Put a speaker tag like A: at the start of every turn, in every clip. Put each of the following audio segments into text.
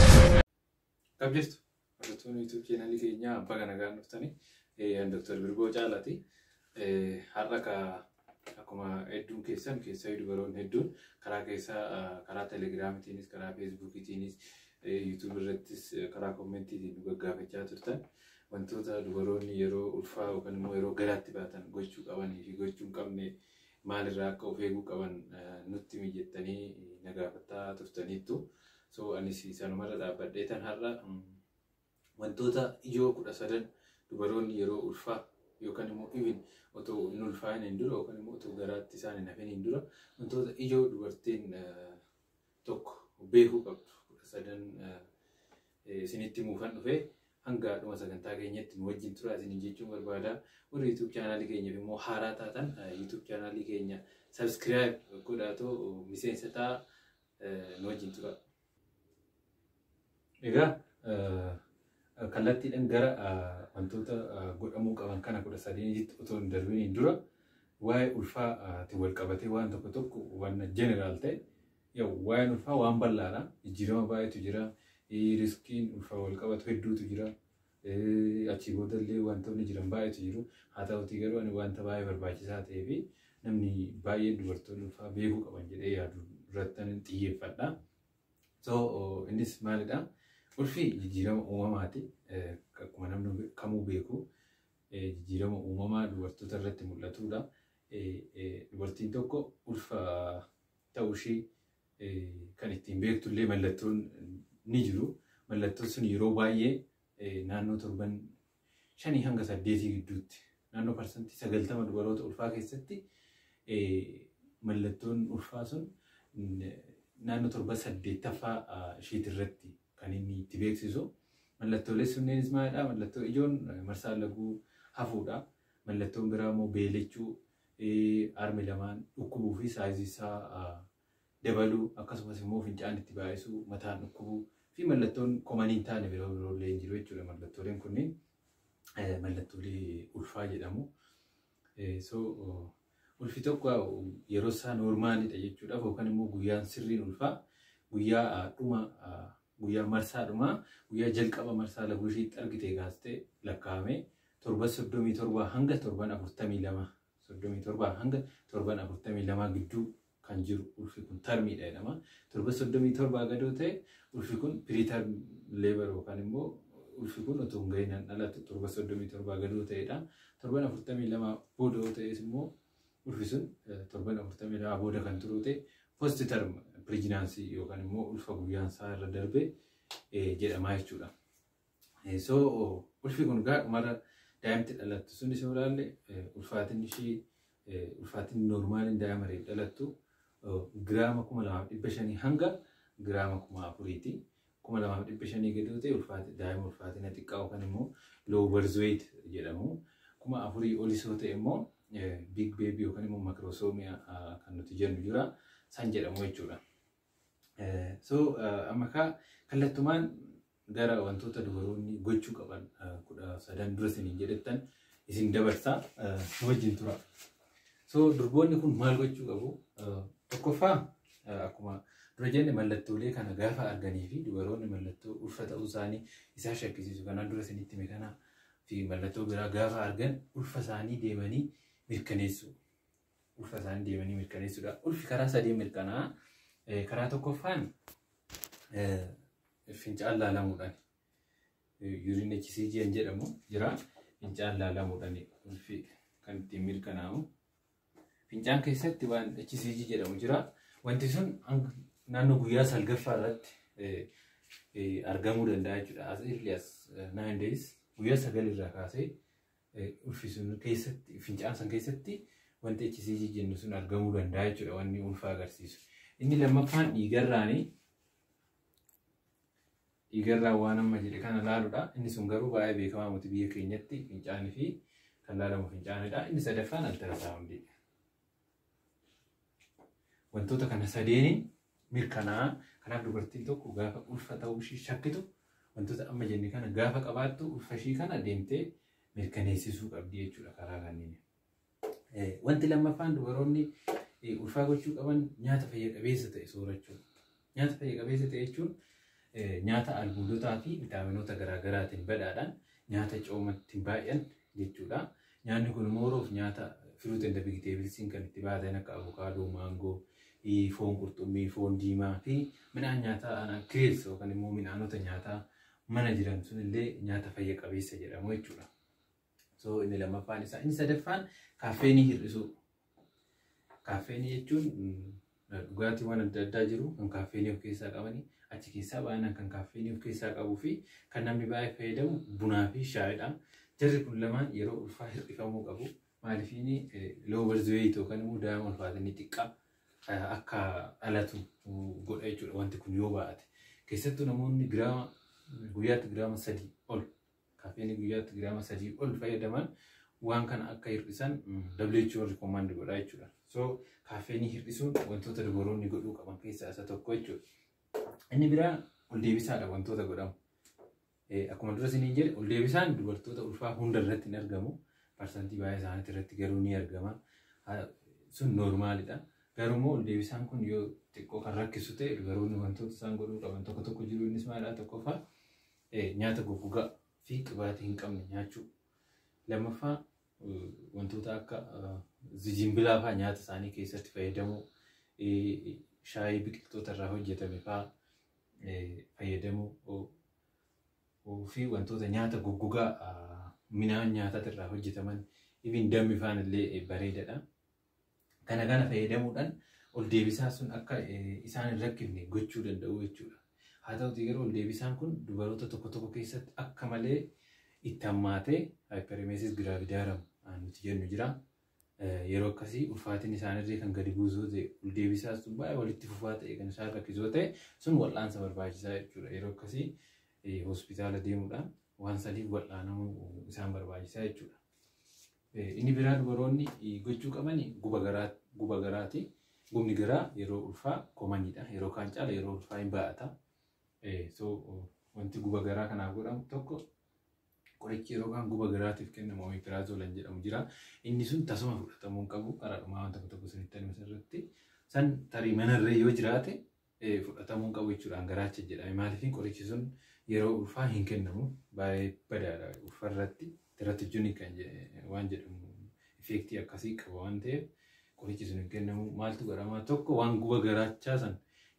A: Akkam jirtu? Hordoftoonni YouTube channel keenyaa abbaa kana gaan dhuftanii Dr. Birgoo Caalaati. Har'a ka akkuma hedduun keessan keessaa dubaroonni hedduun karaa keessaa karaa telegiraamitiinis karaa feesbuukitiinis YouTube irrattis karaa koomentiitiin nu gaggaafachaa turtan. Wantoota dubaroonni yeroo ulfaa yookan immoo yeroo garaatti baatan gochuu qabanii fi gochuu hin qabne maalirraa akka of eeguu qaban nutti himi jettanii na gaafataa turtaniittu. So anis sanumarra dhaabbadhee tan har'a wantoota ijoo kudha sadan dubaroonni yeroo ulfaa yookan immoo even otoo hin ulfaa'in hin dura yookan immoo otoo garaatti isaan hin hafin hin dura wantoota ijoo dubartiin tokko beekuu qabdu kudha sadan isinitti muufan dhufe hanga dhuma sagantaa keenyatti nu wajjin tura isiniin jechuun barbaada. Warri YouTube chaanaalii keenyaaf immoo haaraa taatan YouTube chaanaalii keenya subscribe godhaatoo miseensa ta'a nu wajjin tura. Egaa kallattiidhaan gara wantoota godhamuu qaban kana kudha sadeenitti otoo hin darbiniin dura waa'ee ulfaatti wal qabatee waan tokko tokko waan jeneraal ta'e waa'een ulfaa waan bal'aadha. Jijjiirama baay'eetu jira. Riskiin ulfaa wal qabatu hedduutu jira. Achii booda illee wantoonni jiran baay'eetu jiru. Haa ta'utii garuu ani wanta baay'ee barbaachisaa ta'ee fi namni baay'een dubartoonni ulfaa beekuu qaban jedhee yaadu irratti xiyyeeffadha. So innis maalidha? Ulfi jijjiirama uumamaati. Akkuma namni kamuu beeku jijjiirama uumamaa dubartoota irratti mul'atudha. Dubartiin tokko ulfa ta'uu ishee kan ittiin beektu illee mallattoon ni jiru. Mallattoon sun yeroo baay'ee naannoo torban shanii hanga saddeetii gidduutti naannoo parsantii sagaltama dubaroota ulfaa keessatti mallattoon ulfaa sun naannoo torba saddeettaffaa ishiiti irratti kan inni itti beeksisu. Mallattoolee sunneenis maalidha? Mallattoo ijoon marsaan laguu hafuudha. Mallattoon biraa immoo beelechuu, armi lamaan dhukkubuu fi saayizii isaa dabaluu, akkasumas immoo fincaan itti baay'isuu, mataan dhukkubuu fi mallattoon koman hin taane biroo biroo illee hin jiru jechuudha. Mallattooleen kunniin mallattoolee ulfaa jedhamu. So ulfi tokko yeroo isaa noormaalidha jechuudhaaf yookaan immoo guyyaan sirriin ulfaa guyyaa dhuma guyyaa marsaa dhumaa guyyaa jalqaba marsaa laguu ishiitti argite gaastee lakkaa'amee torban soddomii torbaa hanga torban afurtamii lama soddomii torbaa hanga torban afurtamii lamaa gidduu kan jiru ulfi kun tarmiidha jedhama. Torban 37 gadoo ta'e ulfi kun preterm labor yookaan immoo ulfi kun otoo hin gahin kan dhalatu torban 37 gadoo ta'edha. Torban 42 booda yoo ta'es immoo ulfi sun torban 42 booda kan turu ta'e post term pregnancy yookaan immoo ulfa guyyaan isaa irra darbe jedhama jechuudha. So ulfi kun gaa dhumarra daa'imti dhalattu sun isa olaalle ulfaatinni ishii ulfaatinni noormaaliin daa'ima reef dhalattu giraama kuma lamaaf dhibba shanii hanga giraama kuma afuriiti. Kuma lamaaf dhibba shanii gadi yoo ta'e daa'ima ulfaatina xiqqaa yookaan immoo low birth weight jedhamu. Kuma afurii olis yoo ta'e immoo big baby yookaan immoo makrosoomiyaa kan nuti jennu jira. San jedhamu jechuudha. So amma kaa kallattumaan gara wantoota dubaroonni gochuu qaban kudha sadan dura isiniin jedhettan isin dabarsaa nu wajjin tura. So durboonni kun maal gochuu qabu? Tokkoffaa akkuma dura jenne mallattoolee kana gaafa arganii fi dubaroonni mallattoo ulfa ta'uu isaanii isaa shakkisiisu kanaan dura isinitti hime kanaa fi mallattoo biraa gaafa argan ulfa isaanii deemanii mirkaneessu. ulfa isaanii deemanii mirkaneessuudha. Ulfi karaa sadii mirkanaa karaa tokkoffaan fincaan laalamuudhaan yuuriin HCG kan jedhamu jira. Fincaan laalamuudhaan ulfi kan ittiin mirkanaa'u. Fincaan keessatti waan HCG jedhamu jira. Wanti sun naannoo guyyaa salgaffaa irratti argamuu danda'a jechuudha. As early as nine days guyyaa sagal irraa kaasee ulfisu keessatti fincaan san keessatti wanti HCG jennu sun argamuu danda'a jechuudha wanni ulfa agarsiisu. Inni lammaffaan dhiigarraani. Dhiigarraa waan amma jedhe kana laaludha. Inni sun garuu baay'ee beekamaa miti biyya keenyatti fincaanii fi kan laalamu fincaanidha. Inni sadaffaan altarasaawundiidha. Wantoota kana sadeeniin mirkanaa'a. Kanaaf dubartiin tokko gaafa ulfa ta'uu ishii shakkitu wantoota amma jenne kana gaafa qabaattu ulfa ishii kana deemtee mirkaneessisuu qabdi jechuudha karaa kanneen. Wanti lammaffaan dubaroonni ulfaa gochuu qaban nyaata fayya qabeessa ta'e soorachuu. Nyaata fayya qabeessa ta'e jechuun nyaata albuudotaa fi vitaaminoota garaagaraatiin badhaadhaan nyaata coomatti baay'an jechuudha. Nyaanni kun immoo yeroof nyaata firuut and vegetablesiin kan itti baatan akka avokaadoo, maangoo, foon qurxummii, foon diimaa fi midhaan nyaataa kirees yookaan immoo midhaanota nyaataa mana jiran sunillee nyaata fayya qabeessa jedhamu jechuudha. So inni lammaffaan isaa inni sadaffaan kaaffeenii hir'isuu. Kaaffeenii jechuun dhugaatiiwwan adda addaa jiru kan kaaffeenii of keessaa qabanii achi keessaa baay'inaan kan kaaffeenii of keessaa qabuu fi kan namni baay'ee fayyadamu bunaa fi shaayidha. Jarri kun lamaan yeroo ulfaa hir'ifamuu qabu. Maaliif inni loowar zuweeyit yookaan immoo daa'ima ulfaatinni xiqqaa akka dhalatu godha jechuudha wanti kun yoo baay'ate. Keessattuu namoonni giraama guyyaatti giraama sadii ol Kafeeni guyyaatti giraama sadii ol fayyadaman waan kana akka hir'isan WHO rikomaandi godha jechuudha. So kafeeni hir'isuun wantoota dubaroonni godhuu qaban keessaa isa tokko jechuudha. Inni biraa ol deebisaadha wantoota godhamu. Akkuma dura isiniin jedhe ol deebisaan dubartoota ulfaa hunda irratti hin argamu. Parsantii baay'ee isaaniitti irratti garuu ni argama. Sun noormaalidha. Garuu immoo ol deebisaan kun yoo xiqqoo kan rakkisu ta'e dubaroonni wantoota isaan godhuu qaban tokko tokko jiru innis maalidha tokkoffaa Nyaata goggogaa fi qibaatii hin qabne nyaachuu. Lammaffaa wantoota akka zijimbilaa fa'aa nyaata isaanii keessatti fayyadamuu, shaayii biqiltoota irraa hojjetame fa'aa fayyadamuu fi wantoota nyaata goggogaa midhaan nyaataa irraa hojjetaman even dammi fa'aan illee bareedadha. Kana kana fayyadamuudhaan ol deebisaa sun akka isaan hin rakkifne gochuu danda'u jechuudha. Haa ta'utii garuu ol deebisaan kun dubaroota tokko tokko keessatti akka malee itti hammaatee hyperemesis gravidarum nuti jennu jira. Yeroo akkasii ulfaatiin isaanirree kan gadi buusuu ta'e ol deebisaa sun baay'ee walitti fufaa ta'e kan isaan rakkisoo ta'e sun wal'aansa barbaachisaa jechuudha. Yeroo akkasii hospitaala deemuudhaan waan sadiif wal'aanamuu isaan barbaachisaa jechuudha. Inni biraa dubaroonni gochuu qabani guba garaati. Gubni garaa yeroo ulfaa komanidha. Yeroo kaan caala yeroo ulfaa hin baay'ata. So wanti guba garaa kanaaf godhamu tokko qorichi yeroo kaan guba garaatiif kennamu omeprazoolan jedhamu jira. Inni sun tasuma fudhatamuu hin qabu. Karaa dhumaa wanta tokko tokko sanitti anuma irratti san tarii manarree yoo jiraate fudhatamuu hin qabu jechuudhaan garaacha jedhame maaliif qorichi sun yeroo ulfaa hin kennamu baay'ee badaadha ulfa irratti teratijinii kan waan jedhamu ifeektii akkasii qaba waan ta'eef qorichi sun hin kennamu maaltu godhama tokko waan guba garaachaa san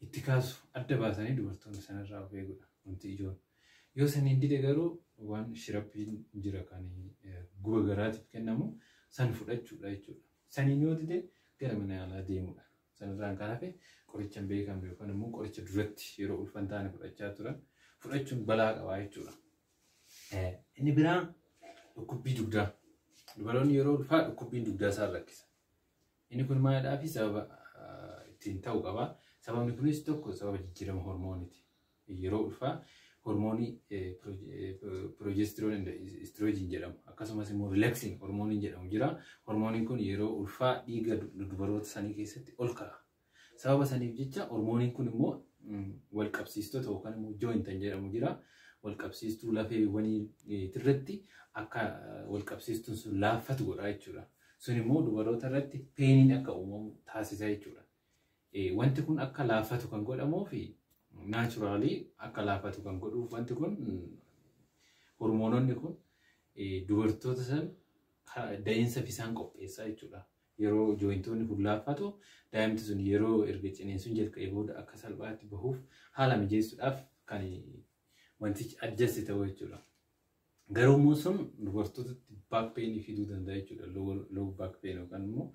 A: itti kaasu adda baasanii dubartoonni sanarraa of eegudha wanti ijoon yoo saniin dide garuu waan shirappiin jira kan guba garaatiif kennamu san fudhachuudha jechuudha saniin yoo dide gara mana yaalaa deemudha Sanirraan kan hafe qoricha hin beekamne yookaan immoo qoricha duratti yeroo ulfa hin taane fudhachaa turan fudhachuun balaa qabaa jechuudha. Inni biraa dhukkubbii dugdaa. Dubaroonni yeroo ulfaa dhukkubbiin dugdaa isaan rakkisa. Inni kun maalidhaa fi sababa ittiin ta'u qaba. Sababni kunis tokko sababa jijjiirama hormooniti. Yeroo ulfaa hormoonii progesterone and estrogen jedhamu akkasumas immoo relaxin hormooniin jedhamu jira. Hormooniin kun yeroo ulfaa dhiiga dubaroota sanii keessatti ol ka'a. Sababa saniif jecha hormooniin kun immoo wal qabsiistota yookaan immoo jointan jedhamu jira. Wal qabsiistuu lafeewwanii irratti akka wal qabsiistuun sun laaffatu godha jechuudha. Sun immoo dubaroota irratti peeniin akka uumamu taasisa jechuudha. Wanti kun akka laaffatu kan godhamuuf naachuraalii akka laaffatu kan godhuuf wanti kun hormoononni kun dubartoota san da'iinsa isaan qopheessaa jechuudha. Yeroo jooyintoonni kun laaffatu daa'imti sun yeroo erga ciniinsuun jalqabee booda akka salphaatti bahuuf haala mijeessuudhaaf kan wantichi adjasti ta'u jechuudha. Garuu immoo sun dubartootatti back pain fiduu danda'a jechuudha. Low back pain yookaan immoo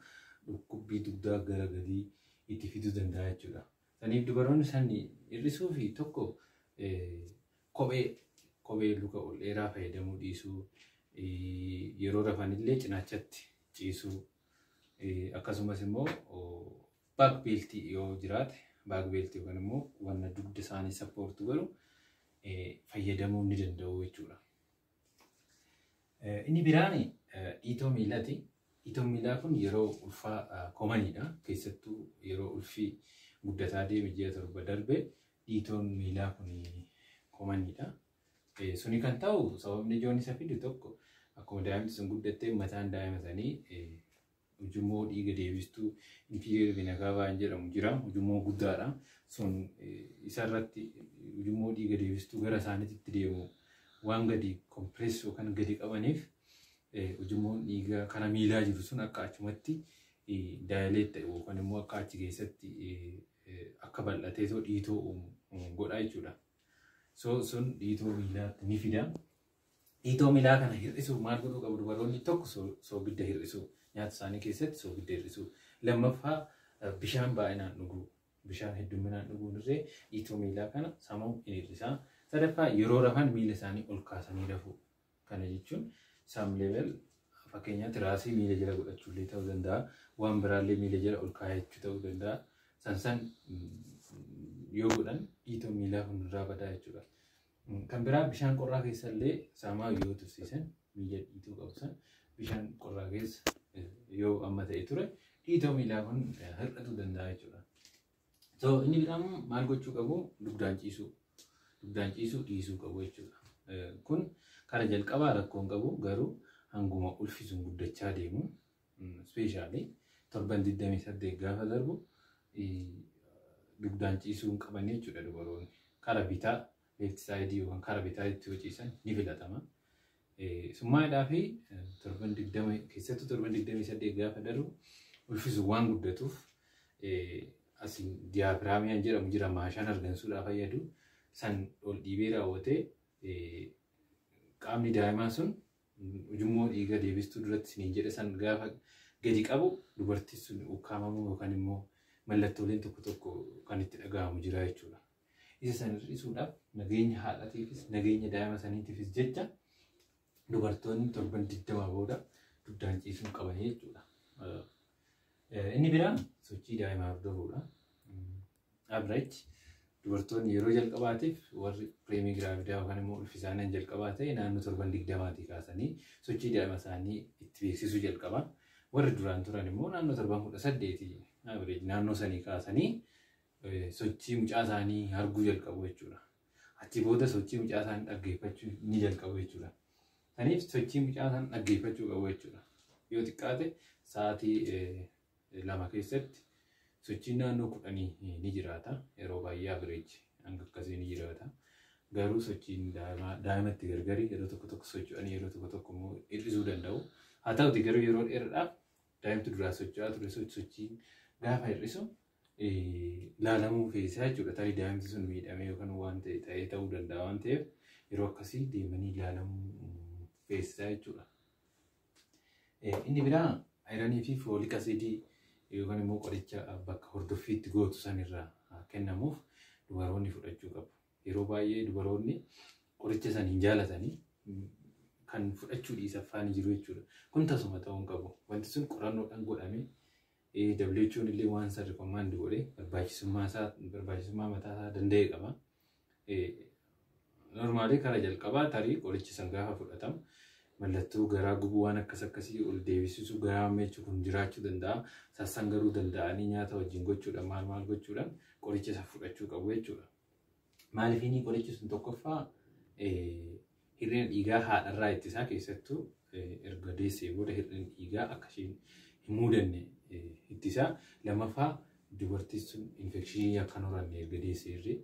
A: dhukkubbii dugdaa gara gadii itti fiduu danda'a jechuudha. Saniif dubaroonni san hir'isuu fi tokko kophee kophee luka ol dheeraa fayyadamuu dhiisuu yeroo rafanillee cinaachatti ciisuu akkasumas immoo baak beeltii yoo jiraate baak beeltii yookaan immoo wanna dugda isaanii sappoortu godhu fayyadamuu ni danda'u jechuudha. Inni biraan dhiitoo miilaati. Dhiitoon miilaa kun yeroo ulfaa koomaniidha. Keessattuu yeroo ulfi guddataa deeme ji'a torba darbe dhiitoon miilaa kun koomaniidha. Suni kan ta'u sababni ijoon isa fidu tokko akkuma daa'imti sun guddattee mataan daa'ima sanii Ujummoo dhiiga deebistuu inferior vena cava hin jedhamu jira. Ujummoo guddaadha. Sun isarratti ujummoo dhiiga deebistuu gara isaaniitti deemu waan gadi kompirees yookaan gadi qabaniif ujummoon dhiigaa kana miilaa jiru sun akka achumatti daayileet ta'e yookaan immoo akka achi keessatti akka bal'atee too dhiitoo uumu godha jechuudha. So sun dhiitoo miilaatti ni fida. Dhiitoo miilaa kana hir'isuuf maal godhuu qabu dubaroonni? Tokko soogidda hir'isuu. Nyaata isaanii keessatti soogidda hir'isuu. Lammaffaa bishaan baay'inaan dhuguu. Bishaan heddumminaan dhuguun irree dhiitoo miilaa kana samuu in hir'isa. Sadaffaa yeroo rafan miila isaanii ol kaasanii rafuu. Kana jechuun some level fakkeenyaa tiraasii miila jala godhachuu illee ta'uu danda'a. Waan biraallee miila jala ol kaayachuu ta'uu danda'a. San san yoo godhan dhiitoo miilaa kun irraa badaa jechuudha. Kan biraa bishaan qorraa keessa illee saamaa yoo tursiisan miila dhiituu qabu san bishaan qorraa keessa yoo amma ta'e ture dhiitoo miilaa kun hir'atuu danda'a jechuudha. So inni biraa immoo maal gochuu qabu dugdaan ciisuu dugdaan ciisuu dhiisuu qabu jechuudha. Kun kara jalqabaa rakkoo hin qabu garuu hanguma ulfisuun guddachaa deemu Ispeeshaalii torban 28 gaafa darbu dugdaan ciisuu hin qaban jechuudha dubaroonni. Kara bitaa left side yookaan kara bitaa itti yoo ciisan ni filatama. Summaadhaa fi torban 20 keessattuu torban 28 gaafa darbu ulfisuun waan guddatuuf asiin diyaafiraamiyaan jedhamu jira maashaan argansuudhaa fayyadu san ol dhiibee raawwatee qaamni daa'imaa sun ujummoo dhiiga deebistuu duratti isiniin jedhe san gaafa gadi qabu dubartiin sun ukkaamamuu yookaan immoo mallattooleen tokko tokko kan itti dhaga'amu jira jechuudha. Isa san hir'isuudhaaf nageenya haadhatiifis nageenya daa'ima saniitiifis jecha dubartoonni torban digdamaa booda dugdaan ciisuu qaban jechuudha. Inni biraan sochii daa'imaa hordofuudha. Average dubartoonni yeroo jalqabaatiif warri pireemii giraavidaa yookaan immoo ulfi isaanii jalqabaa ta'e naannoo torban digdamaatii kaasanii sochii daa'ima isaanii itti beeksisuu jalqaba. Warri duraan turan immoo naannoo torban kudha saddeeti average naannoo sanii kaasanii sochii mucaa isaanii arguu jalqabu jechuudha. Achi booda sochii mucaa isaanii dhaggeeffachuu ni jalqabu jechuudha. Saniif sochii mucaa isaanii dhaggeeffachuu qabu jechuudha. Yoo xiqqaate sa'aatii lama keessatti sochiin naannoo kudhanii ni jiraata. Yeroo baay'ee average hanga akkasii ni jiraata. Garuu sochiin daa'imaa daa'imatti gargari yeroo tokko tokko socho'anii yeroo tokko tokko immoo hir'isuu danda'u. Haa ta'uti garuu yeroo dheeraadhaaf daa'imtu duraa socho'aa ture sochii gaafa hir'isu laalamuu feesisaa jechuudha. Tarii daa'imti sun miidhamee yookaan waan ta'e ta'ee ta'uu danda'a waan ta'eef yeroo akkasii deemanii laalamuu feesisaa jechuudha. Inni biraa ayiranii fi foolik asiidii yookaan immoo qoricha bakka hordoffiitti gootu sanirraa kennamuuf dubaroonni fudhachuu qabu. Yeroo baay'ee dubaroonni qoricha san hin jaalatanii kan fudhachuu dhiisa faani jiru jechuudha. Kun tasuma ta'uu hin qabu. Wanti sun qorannoodhaan godhamee WHO'n illee waan san rikomaand godhe barbaachisummaa isaa barbaachisummaa mataa isaa danda'e qaba. Normaalii kara jalqabaa tarii qorichi san gaafa fudhatamu mallattoo garaa gubuu waan akkas akkasii ol deebisisu garaa meechu kun jiraachuu danda'a. Sassan garuu danda'anii nyaata wajjin gochuudhaan maal maal gochuudhaan qoricha isa fudhachuu qabu jechuudha. Maaliif inni qorichi sun tokkoffaa Hir'ina dhiigaa haadharraa ittisaa keessattuu erga deessee booda hir'ina dhiigaa akka isheen hin muudanne ittisaa. Lammaffaa dubartiin sun infekshinii akka hin horanne erga deessee irree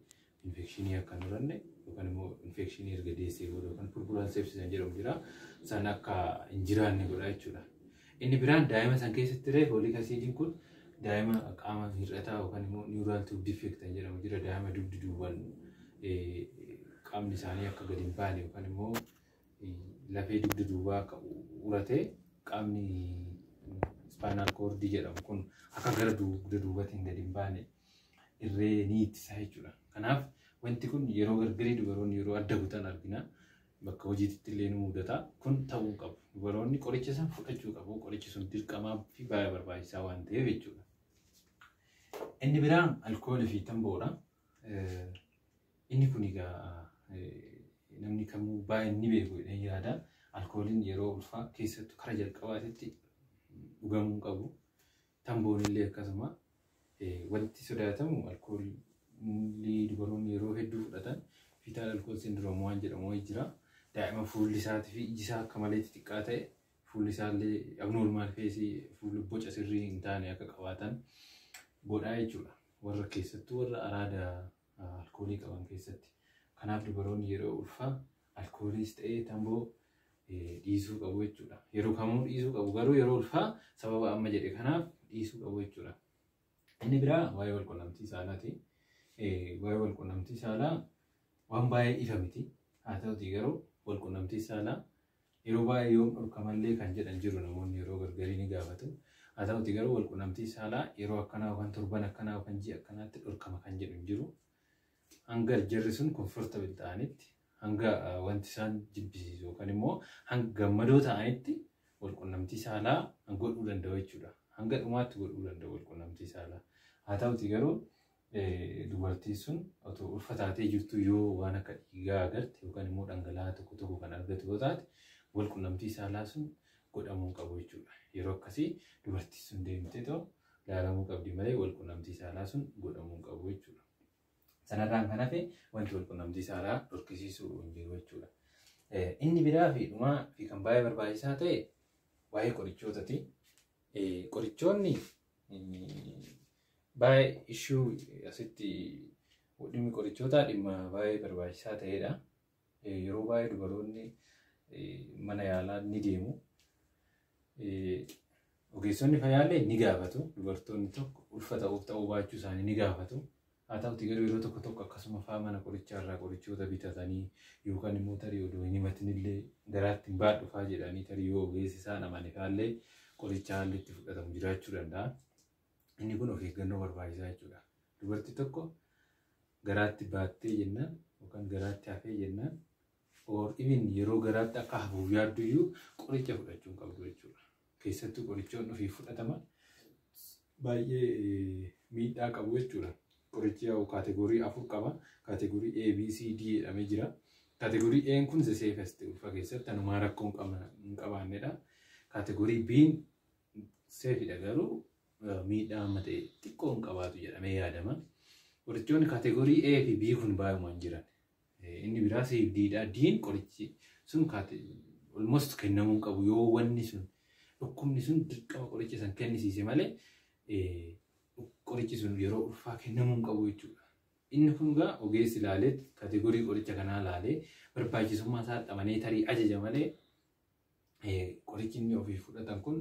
A: infekshinii akka hin horanne yookaan immoo infekshinii erga deessee booda yookaan purpuraan seepsisan jedhamu jira. San akka hin jiraanne godha jechuudha. Inni biraan daa'ima san keessatti illee fooliik asiidiin kun daa'ima qaama hir'ataa yookaan immoo niwuraal tuub difeekt kan jedhamu jira daa'ima dugdi duuban qaamni isaanii akka gadi hin baane yookaan immoo lafee dugdi duubaa akka uratee qaamni ispaanaal koordii jedhamu kun akka gara dugda duubatiin gadi hin baane irree ni ittisa jechuudha. Kanaaf wanti kun yeroo gargarii dubaroonni yeroo adda kutan argina. bakka hojiititti illee ni mudata. Kun ta'uu hin qabu. Dubaroonni qoricha san fudhachuu qabu. Qorichi sun dirqamaa fi baay'ee barbaachisaa waan ta'eef jechuudha. Inni biraa alkoolii fi tamboodha. Eh, Inni kun egaa eh, namni kamuu baay'een ni beeku jedheen yaada. Alkooliin yeroo ulfaa keessattuu kara jalqabaatitti dhugamuu hin qabu. Tamboonillee akkasuma. Wanti sodaatamu alkoolii dubaroonni yeroo hedduu fudhatan Fetal Alcohol Syndrome waan jedhamu wayii jira. Daa'ima fuulli isaatii fi iji isaa akka malee xixiqqaa ta'e fuulli isaallee abnormal face fuula boca sirrii hin taane akka qabaatan godhaa jechuudha. Warra keessattuu warra araada alkoolii qaban keessatti. Kanaaf dubaroonni yeroo ulfaa alkooliis ta'ee tamboo dhiisuu qabu jechuudha. Yeroo kamuu dhiisuu qabu garuu yeroo ulfaa sababa amma jedhe kanaaf dhiisuu qabu jechuudha. Inni biraa waa'ee wal qunnamtii saalaati. Waa'ee wal qunnamtii saalaa waan baay'ee ifa miti. Haa ta'utii garuu wal qunnamtii saalaa yeroo baay'ee yoom dhorkamallee kan jedhan jiru namoonni yeroo gargarii ni gaafatu. Haa ta'utii garuu wal qunnamtii saalaa yeroo akkanaa yookaan torban akkanaa yookaan ji'a akkanaatti dhorkama kan jedhu jiru. Hanga jarri sun comfortable ta'anitti, hanga ah, wanti isaan jibbisiisu yookaan immoo hanga gammadoo ta'anitti walqunnamtii saalaa godhuu danda'u jechuudha. Hanga dhumaatti godhuu danda'u walqunnamtii saalaa. Haa ta'uti garuu eh, dubartiin sun otoo ulfa taatee jirtu yoo waan akka dhiigaa agarte yookaan immoo dhangala'aa tokko tokko kan argatu yoo taate walqunnamtii saalaa sun godhamuu hin qabu jechuudha. Yeroo akkasii dubartiin sun deemtee too ilaalamuu qabdi malee walqunnamtii saalaa sun godhamuu hin qabu jechuudha. Sanarraan kan hafe wanti walqunnamtii saalaa dhorkisiisu hin jiru jechuudha. Inni biraa fi dhumaa fi kan baay'ee barbaachisaa ta'e waa'ee qorichootati. Qorichoonni baay'ee ishuu asitti dhimmi qorichootaa dhimma baay'ee barbaachisaa ta'edha. Yeroo baay'ee dubaroonni mana yaalaa ni deemu. Ogeessonni fayyaallee ni gaafatu. Dubartoonni tokko ulfa ta'uuf ta'uu baachuu isaanii ni gaafatu. Haa ta'uti garuu yeroo tokko tokko akkasuma fa'aa mana qorichaa irraa qorichoota bitatanii yookaan immoo tarii odoo hin himatinillee garaatti hin baadhu fa'aa jedhanii tarii yoo ogeessi isaan amane fa'aallee qorichaa haalli itti fudhatamu jiraachuu danda'a. Inni kun of eeggannoo barbaachisaa jechuudha. Dubartii tokko garaatti baattee jennaan yookaan garaatti hafee jennaan or even yeroo garaatti akka hafuuf yaaddu iyyuu qoricha fudhachuu hin qabdu jechuudha. Keessattuu qorichoonni ofii fudhataman baay'ee miidhaa qabu jechuudha. Qorichi yaa'u kaategorii afur qaba. Kaategorii A, B, C, D jedhamee jira. Kaategorii A kun the safest ulfa keessatti hanumaa rakkoo hin qabna- hin qabaannedha. Kaategorii B seefidha garuu miidhaa amma ta'e xiqqoo hin qabaatu jedhamee yaadama. Qorichoonni kaategorii A fi B kun baay'uma hin jiran. Inni biraa C fi D dha. D'n qorichi sun almost kennamuu hin qabu yoo wanni sun dhukkubni sun dirqama qoricha san kennisiise malee qorichi sun yeroo ulfaa kennamuu hin qabu jechuudha. Inni kun egaa ogeessi ilaalee kaategorii qoricha kanaa ilaalee barbaachisummaa isaa dhamanee tarii ajaja malee Qorichi inni ofiif fudhatan kun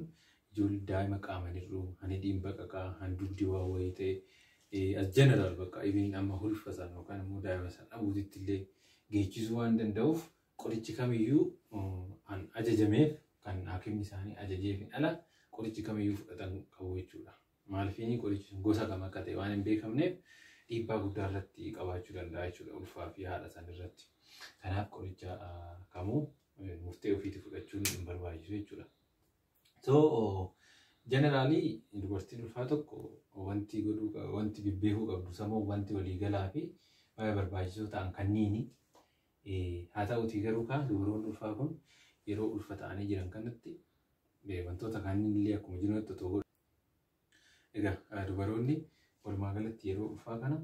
A: ijoollee daa'ima qaama hir'uu, hani dhiimbaqaqaa, han dugdi waa wayii ta'e, as general bakka even amma hulfa san yookaan immoo daa'ima san dhabuutitti illee geechisuu waan danda'uuf qorichi kamiyyuu kan ajajameef kan haakimni isaanii ajajeefin ala qorichi kamiyyuu fudhatan qabu jechuudha. Maalifiinii qorichi sun gosa kam akka ta'e waan hin beekamneef dhiibbaa guddaa irratti qabaachuu danda'a jechuudha ulfaa fi haadha san irratti. Kanaaf qoricha kamuu murtee ofiitti fudhachuun hin barbaachisu jechuudha. So jeneraalii dubartiin ulfaa tokko wanti godhuu wanti bibbeekuu qabdu samoo wanti waliigalaa fi baay'ee barbaachisoo ta'an kanniini. Haa ta'uutii garuu kaan dubaroonni ulfaa kun yeroo ulfa ta'anii jiran kanatti wantoota kaanillee akkuma jirutti otoo Egaa dubaroonni walumaa galatti yeroo ulfaa kana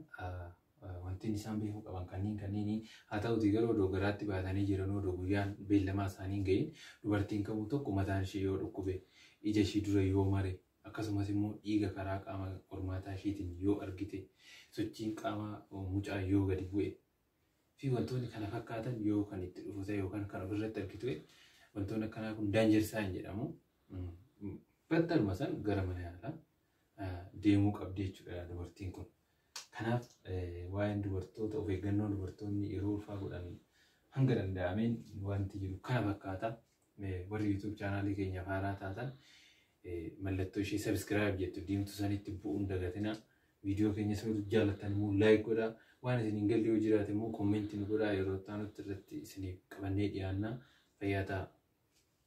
A: wanti isaan beekuu qaban kanneen kanneenii haa ta'uti garuu odoo garaatti baatanii jiranuu odoo guyyaan beellamaa isaanii hin ga'iin dubartiin kamuu tokko mataan ishee yoo dhukkube ija ishii dura yoo mare akkasumas immoo dhiiga karaa qaama qormaataa ishiitiin yoo argite sochiin qaamaa mucaa yoo gadi bu'e fi wantoonni kana fakkaatan yoo kan itti dhufu ta'e yookaan kan ofirratti argitu ta'e wantoonni akkanaa kun danger sign jedhamu. Battaluma san gara mana yaalaa deemuu qabdi jechuudha dubartiin kun. Kanaaf waa'een dubartoota of eeggannoo dubartoonni yeroo ulfaa godhan hanga danda'ameen wanti jiru kana fakkaata. Warri YouTube chaanaalii keenyaaf haaraa taatan mallattoo ishee subscribe jettu diimtu sanitti bu'uun dagatina. Viidiyoo keenyas nuti jaallattan immoo like godhaa. Waan isin hin galle yoo jiraate immoo kommentii nu godhaa yeroo itti aanutti irratti isiniif qabannee dhiyaanna. Fayyaa ta'aa.